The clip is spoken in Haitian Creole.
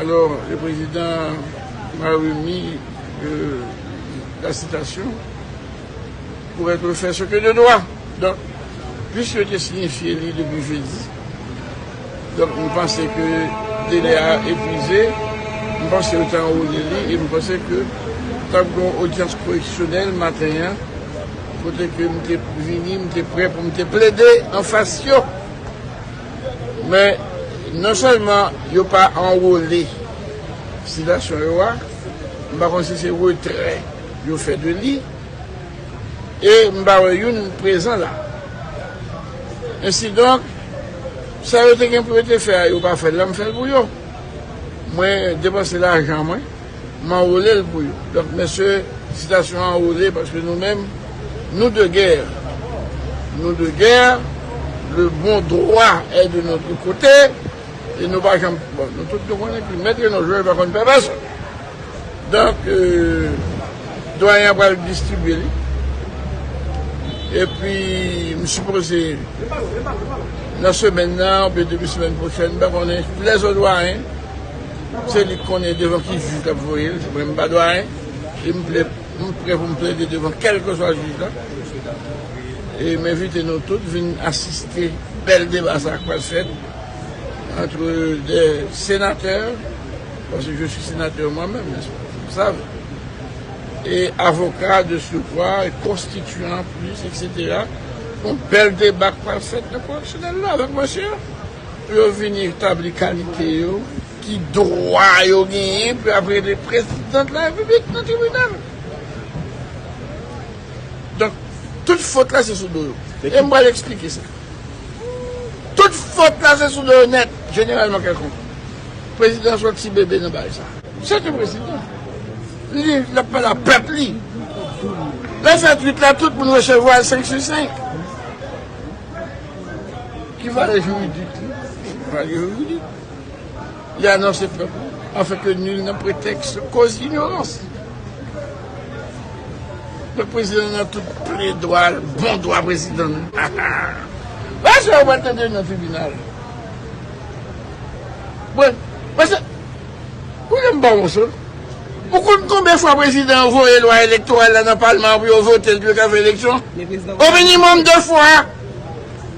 Alò le prezidan m'a remi la sitasyon pou etre fè se ke de dwa. Donk, pwis yo te sinyifye li depi jedi, donk m panse ke delè a epwize, m panse yo te anwole li e m panse ke t ap gon odyans koreksyonèl maten an kote ke m te vini, m te prè pou m te plede anfas yo. Men, non sèlman yo pa anwole sitasyon yo a, m pa konn si se retrè yo fè de li, e m pa wè youn prezan la. Ensidonk, sa yo te gen pou yo te fè a yo pa fè l la, m fè l pou yo. Mwen depanse lajan mwen. m anwole l pou yo. Donk mesye sitasyon anwole paske nou menm nou de gè, nou de gè, le bon dwa è de notre kote e nou pa janm, bon nou tout nou konnen ke mèt Reno Jòj pa konn pè pèsonn. Donk Doyen an pral distribye li e pi m sipoze nan semèn nan oubyen debi semèn pwochèn m pa konnen lè zo Dwayen Se li k konnen devan ki jij l ap voye l. Mwen m pa dwayen e m pre pou m plede devan kèlkeswa jij la. E m envite nou tout vin asiste bèl deba sa k pral fèt antre 2 senatè, paske je suis sénateur moi même, n'est-ce pas, vous le savez, e avoka de surcroît, e konstityan an plis, etc. Yon bèl deba k pral fèt nan koreksyonèl la avèk monsye a. Pou yo vini tabli kalite yo, ki dwa yo genyen pou y ap rele Prezidant Larepiblik nan tribinal. Donk, tout fot la se sou do yo. E m pral eksplike sa. Tout fot la se sou do yo nèt, jeneralman kèlkonk. Prezidan se yon ti bebe nan bagay sa. Se te prezidan. Li l ap pale ak pèp li. Lè l fè twit la, tout moun resevwa l senk sou senk. Ki valè juridik li? Valè juridik li anonse pèp la afin que nul ne prétexte cause d'ignorance. Donk prezidan nan tout plen dwa l, bon dwa prezidan l. Ha ha! Wè sa yo pral tande nan tribinal. Mwen, mwen se, ou gen m pa wons ou? Ou konn konbyen fwa prezidan an voye lwa elektoral la nan palman an pou yo vote l pou yo ka fè eleksyon? Au minimum 2 fwa!